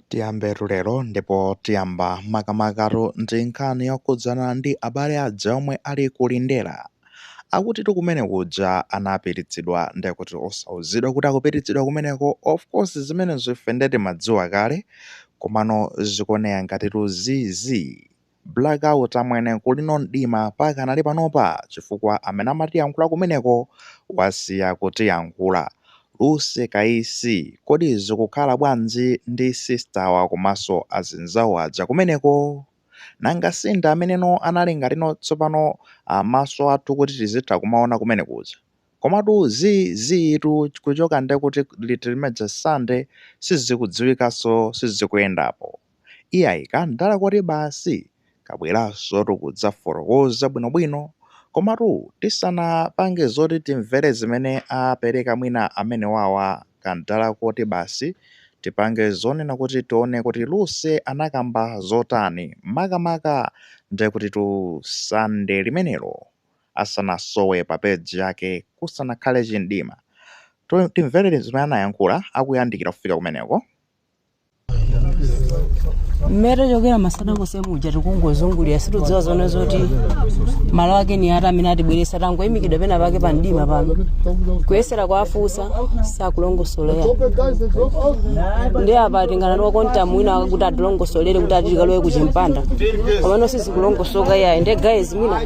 Tiyambetu lero ndipo tiyamba makamakatu ndi nkhani yokhudzana ndi abale aja omwe ali ku Lindera. Akutitu kumene kuja anapititsidwa nde kuti osauzidwa kuti akupititsidwa kumeneko of course zimenezo ife nde timadziwa kale komano zikuoneka ngatitu zii zii. Black out amwene kuli no mdima pakanali panopa chifukwa amene amatiyankhula kumeneko wasiya kutiyankhula. Lucy Kaisi kodi zikukhala bwanji ndi sister wa komaso azinzawo aja kumeneko? Nanga sindi amene no anali ngati no tsopano maso athu kuti tizitha kumaona kumene kuja? Komatu zii zii tu kuchoka nde kuti liti limeja Sunday sizikudziwikaso sizikuyendapo. Iyayi kamdala koti basi kabwerasotu kudzafotokoza bwino bwino komatu tisanapange zoti timvere zimene apereka mwina amenewawa kamdala koti basi tipange zonena kuti tione kuti Lucy anakamba zotani maka maka ndekutitu sunday limenelo asanasowe pa page yake kusanakhale chimdima timvere zimene anayankhula akuyandikira kufika kumeneko. mmene tachokera masana konse muja tikungozungulira situdziwa zonena zoti malo ake ni ati amene atibweresa tangoyimikidwa pena pake pa mdima pano kuyesera kwafusa sakulongosolera ndi apa tingana ndi wa Quantum wina kuti atilongosolere kuti ati tikalowe kuchimpanda komano sizikulongosoka iyayi ndi guys mwina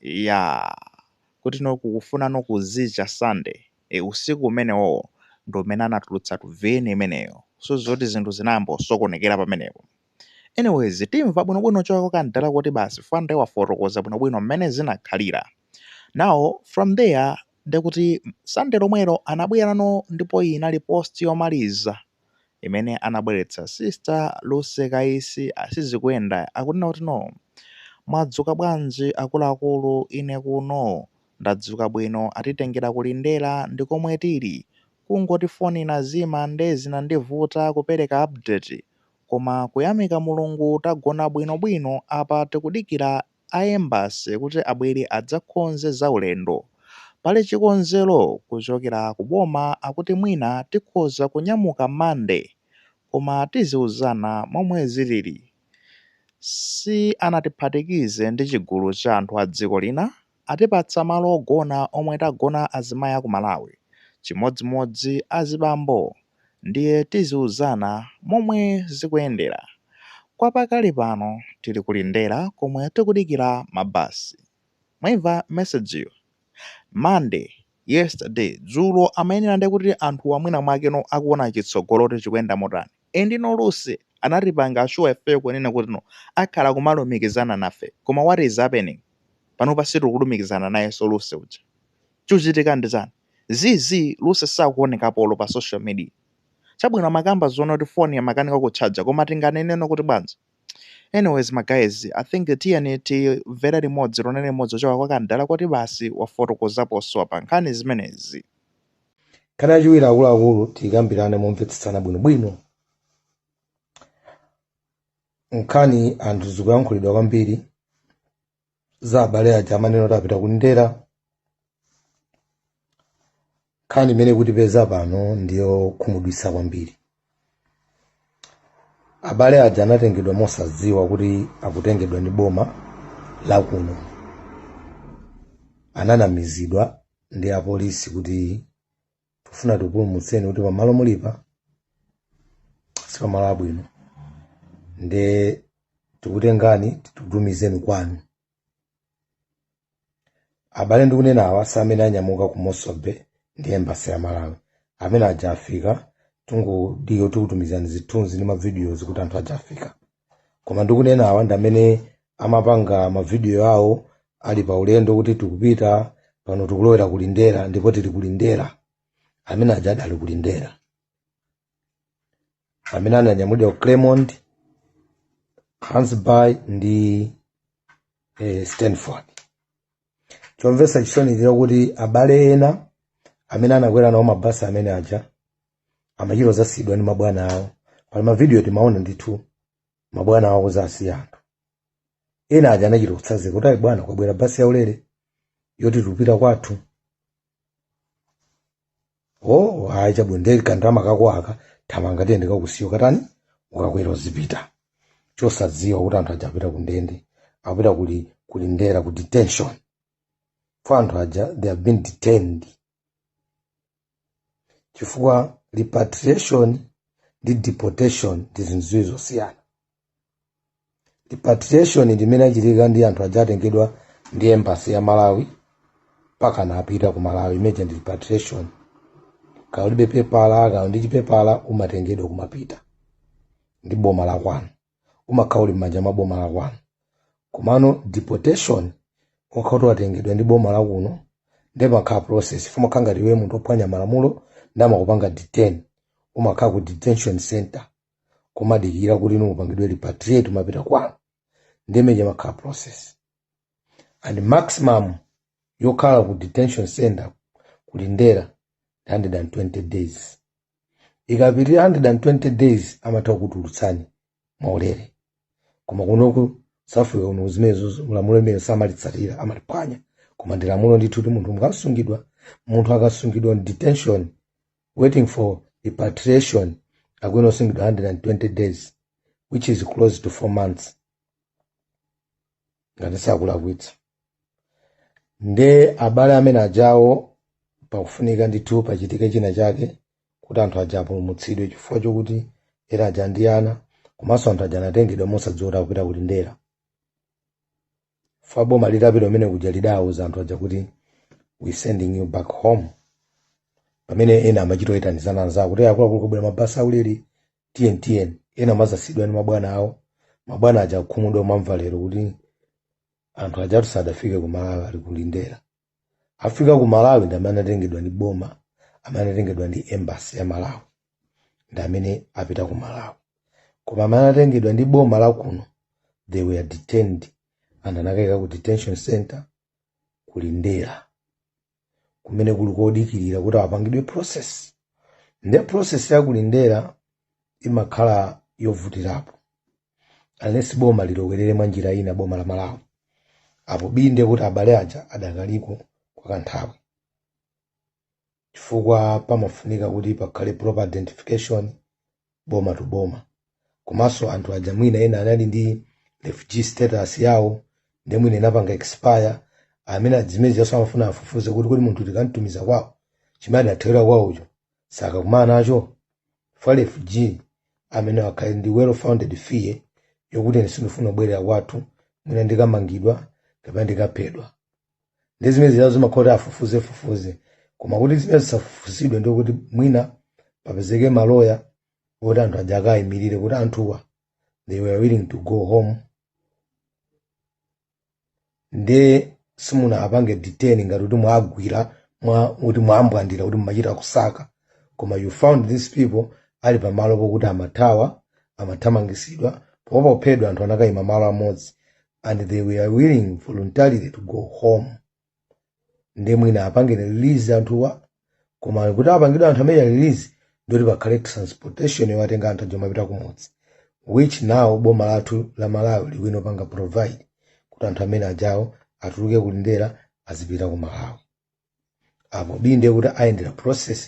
Iyaa kuti no kukufuna no kuzicha Sunday ee usiku umenewowo ndi umene anatulutsatu VN imeneyo so zoti zinthu zinayamba kusokonekera pamenepo anyways timva bwinobwino choka kwa Kamdala kuti basi fukwa nde wafotokoza bwinobwino mmene zinakhalira now from there ndekuti Sunday lomwelo anabwerano ndipo iyi inali post yomaliza imene anabweretsa sister Lucy Kaisi a Sizikuyenda akunena kuti no mwadzuka bwanji akuluakulu ine kuno ndadzuka bwino atitengera ku Lindera ndikomwe tili kungoti phone inazima nde zinandivuta kupereka update koma kuyamika Mulungu tagona bwino bwino apa tikudikira a Embassy kuti abwere adzakonze za ulendo. Pali chikonzero kuchokera ku boma akuti mwina tikhoza kunyamuka Monday koma tiziuzana momwe zilili. Sianatiphatikize ndi chigulu cha anthu a dziko lina, atipatsa malo ogona omwe tagona azimayi aku Malawi chimodzimodzi azibambo. ndiye tiziuzana momwe zikuyendera. Kwa pakali pano tili ku Lindera komwe tikudikira ma bus. Mwaimva message yo? Monday, yesterday, dzulo amayenera ndiye kuti anthuwa mwina mwakeno akuona chitsogolo kuti chikuyenda motani. Endino Lucy anatipanga assure ife kunena kutino akhala kumalumikizana nafe koma what is happening? Panopa sitikulumikizana nayenso Lucy uja. Chikuchitika ndi chani? Zii zii Lucy sakuonekapo olo pa social media. Chabwino amakamba zoona kuti phone imakanika kutchaja koma tinganeneno kuti bwanji? Anyways ma guys I think tiyeni timvere limodzi tionere limodzi kuchoka kwa Kamdala koti basi wafotokozaponso apa nkhani zimenezi. Nkhani yachiwiri akuluakulu tikambirane momvetsetsana bwinobwino. Nkhani anthu zikuyankhulidwa kwambiri. za abale aja amanena kuti apita ku Lindera nkhani imene ikutipeza pano ndi yokhumudwitsa kwambiri abale aja anatengedwa mosadziwa kuti akutengedwa ndi boma lakuno ananamizidwa ndi apolisi kuti tikufuna tikupulumutseni kuti pamalo mulipa si pamalo abwino nde tikutengani tikutumizeni kwanu abale ndikunenawa si amene anyamuka ku Mossel Bay ndi embassy ya malawi amene aja afika tingodikira tikutumizani zithunzi ndi ma videos kuti anthu aja afika koma ndikunena awa ndi amene amapanga mavidiyo awo ali pa ulendo kuti tikupita pano tikulowera ku Lindera ndipo tili ku Lindera amene aja adali ku Lindera amene ananyamulidwa ku Kleinmond Gansbaai ndi eh, Stanford chomvetsa chisoni ndi chakuti abale ena amene anakwera nawo mabasi amene aja amachita dzasiyidwa ndi mabwana awo pali mavidiyo timaona ndithu mabwana awo kudzasiya anthu ena aja anachita kutsanzika kuti ayi bwana kwabwera basi yaulere yoti tikupita kwathu o ayi chabwino nde kandalama kako aka thamanga tiye ndikakusiye ukatani ukakwere uzipita chosadziwa kuti anthu aja apita kundende apita kuli ku Lindera ku detention for anthu aja they have been detained chifukwa repatriation ndi deportation ndi zinthu ziwiri zosiyana repatriation ndi imene yachitika ndi anthu aja atengedwa ndi embassy ya malawi mpaka anapita ku malawi imene ija ndi repatriation kaya ulibe pepala kaya uli ndi chipepala umatengedwa kumapita ndi boma la kwanu umakhala uli m'manja mwa boma lakwanu komano deportation umakhala kuti watengedwa ndi boma lakuno nde imakhala process fa umakhala ngati iwe munthu ophwanya malamulo ndi amakupanga detain umakhala ku detention center kumadikira kuti inu upangidwe repatriate umapita kwanu nde mmene imakhala process and maximum yokhala ku detention center ku lindela ndi 120 days ikapitirira 120 days amatha kukutulutsani mwaulere koma kunoku south africa kuno zimenezo ndi lamulo limene samalitsatira amaliphwanya koma ndi lamulo ndithu kuti munthu mukasungidwa munthu akasungidwa mu detention waiting for repatriation akuyenera kusungidwa 120 days which is close to 4 months ngati sindikulakwitsa nde abale amene ajawo pakufunika ndithu pachitike china chake kuti anthu aja apulumutsidwe chifukwa chokuti ena aja ndi ana komanso anthu aja anatengedwa mosadziwa kuti akupita ku lindela fa boma litapita kumene kuja lidawuza anthu aja kuti we sending you back home pamene ena amachita kuyitanizana anzawo kuti akuluakulu kubwera mabasi aulere tiyeni tiyeni ena amadzasiyidwa ndi mabwana awo mabwana aja kukhumudwa kumamva lero kuti anthu ajatu sadafike ku malawi ali ku lindela afika ku malawi ndi amene anatengedwa ndi boma amene anatengedwa ndi embassy ya malawi ndi amene apita ku malawi koma amene anatengedwa ndi boma la kuno they were detained and anakaikidwa ku detention center ku lindela kumene kuli kodikirira kuti akapangidwe process nde process ya ku lindela imakhala yovutirapo unless boma lilowerere mwa njira ina boma la malawi apo bii nde kuti abale aja adakaliko kwa kanthawi chifukwa pamafunika kuti pakhale proper identification boma to boma komanso anthu aja mwina ena anali ndi refugee status yawo nde mwina inapanga expire amene a zimenezi ajanso amafuna afufuze kuti kodi munthu tikamtumiza kwawo chimene adathawira kwawocho sakakumana nacho fa refugee amayenera akhale ndi well founded fear yokuti ine sindifuna kubwerera kwathu mwina ndikamangidwa kapena ndikaphedwa nde zimenezi zinazo zimakhala zoti afufuze fufuze koma kuti zimenezi zisafufuzidwe ndi kuti mwina papezeke maloya oti anthu aja akawayimirire kuti anthuwa they were willing to go home nde simungawapange detain ngati kuti mwagwira kuti mwambwandira kuti mumachita kusaka koma you found these people ali pamalo pokuti amathawa amathamangitsidwa poopa kuphedwa anthu anakayima malo amodzi and they were willing voluntarily to go home nde mwina apangire release anthuwa koma kuti apangidwe anthu amene release ndoti pakhale transportation yowatenga anthu aja opita kumudzi which now boma lathu la malawi likuyenera kupanga provide kuti anthu amene ajawo atuluke kulindera azipita ku malawi apo binde kuti ayendere process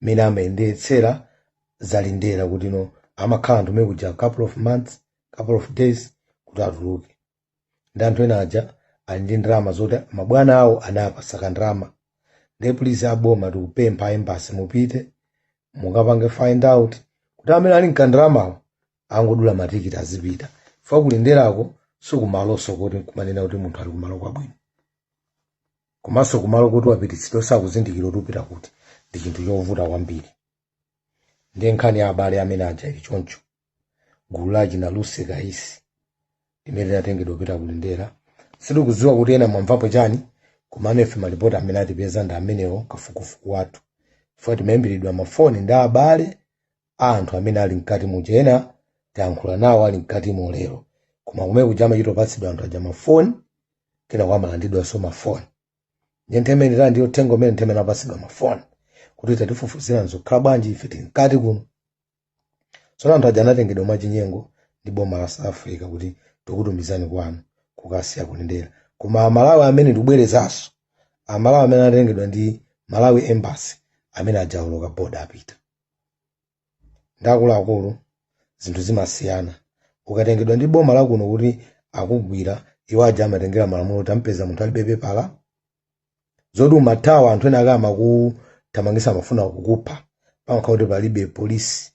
imene amayendetsera zalindera kuti no amakhala anthu amene kuja couple of months couple of days kuti atuluke ndi anthu ena aja ali ndi ndalama zoti mabwana awo anawapatsa kandalama nde please aboma tikupempha embasi mupite mukapange find out kuti amene ali nkandalamawo angodula matikiti azipita fa kulinderako sikumalonso koti kumanena kuti munthu ali kumalo kwabwino komanso kumalo koti wapititsidwa osakuzindikira kuti upita kuti ndi chinthu chovuta kwambiri ndiye nkhani ya abale amene aja ili choncho gulu la achina lucy kaisi limene linatengedwa kupita ku lindera sitikudziwa kuti ena mwamvapo chani koma amefe malipoti amene atipeza ndi amenewo kafukufuku wathu chifukwa timayimbiridwa mafoni ndi abale a anthu amene ali mkati muja ena tayankhula nawo ali mkatimo lero koma kumene kuja amachita kupatsidwa anthu aja mafoni kenako amalandidwanso mafoni nde nthawi imene ija ndiye uthenga umene nthawi imene anapatsidwa mafoni kuti tatifufuzirani zikukhala bwanji ife tili mkati kuno tsono anthu aja anatengedwa mwachinyengo ndi boma la south africa kuti tikutumizani kwanu kukasiya kulindera koma amalawi amene ndikubwerezanso amalawi amene anatengedwa ndi malawi embassy amene aja awoloka boda apita nde akuluakulu zinthu zimasiyana ukatengedwa ndi boma lakuno kuti akugwira iwo aja amatengera malamulo kuti ampeza munthu alibe pepala zoti umathawa anthu ena ake amakuthamangisa amafuna kukupha pamakhala kuti palibe police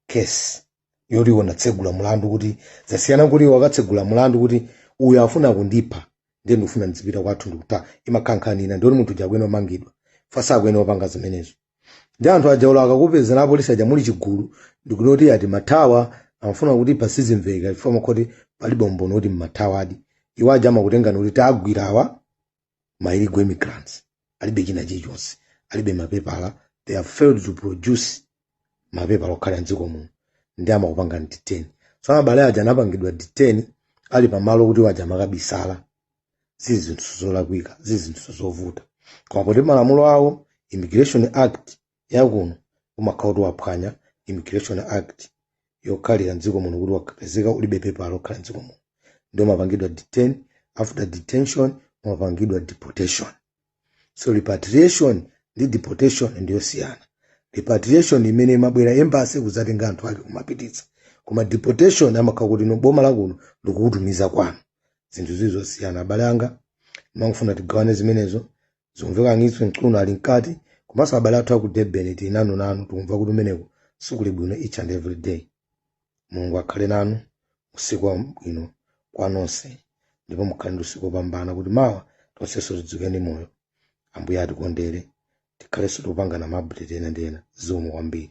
case yoti iwo anatsegula mulandu kuti zasiyana kuti iwo akatsegula mulandu kuti uyu afuna kundipha ndiye ndikufuna ndizipita kwathu ndikuta imakhala nkhani ina ndiye munthu uja akuyenera kumangidwa fasa akuyenera kupanga zimenezo nde anthu aja olo akakupezani apolisi aja muli chigulu ndikuti kuti ati mathawa amafuna kutipha sizimveka chifukwa amakhala kuti palibe umboni kuti mmathawadi iwo aja amakutengani kuti tagwira awa ma illegal immigrants alibe china chilichonse alibe mapepala they have failed to produce mapepala okhala mdziko muno nde amakupanga detain so abale aja anapangidwa detain ali pamalo poti iwo aja amakabisala zili zinthu zolakwika zili zinthu zovuta koma poti malamulo awo immigration act yakuno umakhala kuti waphwanya immigration act yokhalira mdziko muno kuti wakapezeka ulibe pepala lokhala mdziko muno ndiye umapangidwa detain after detention umapangidwa deportation so repatriation ndi deportation ndiyosiyana repatriation imene imabwera embassy kudzatenga anthu ake kumapititsa koma deportation amakhala kuti no boma lakuno likukutumiza kwanu zinthu zili zosiyana abale anga ndimangofuna tigawane zimenezo zikumveka Ngizwe Mchunu ali mkati komanso abale athu aku durban tili nanu nanu tikumva kuti umeneko sikuli bwino each and every day mulungu akhale nanu usiku wabwino kwa nonse ndipo mukhale ndi usiku wopambana kuti mawa tonsenso tidzuke ndi moyo ambuye atikondere tikhalenso tikupatsana maupdate ena ndi ena zikomo kwambiri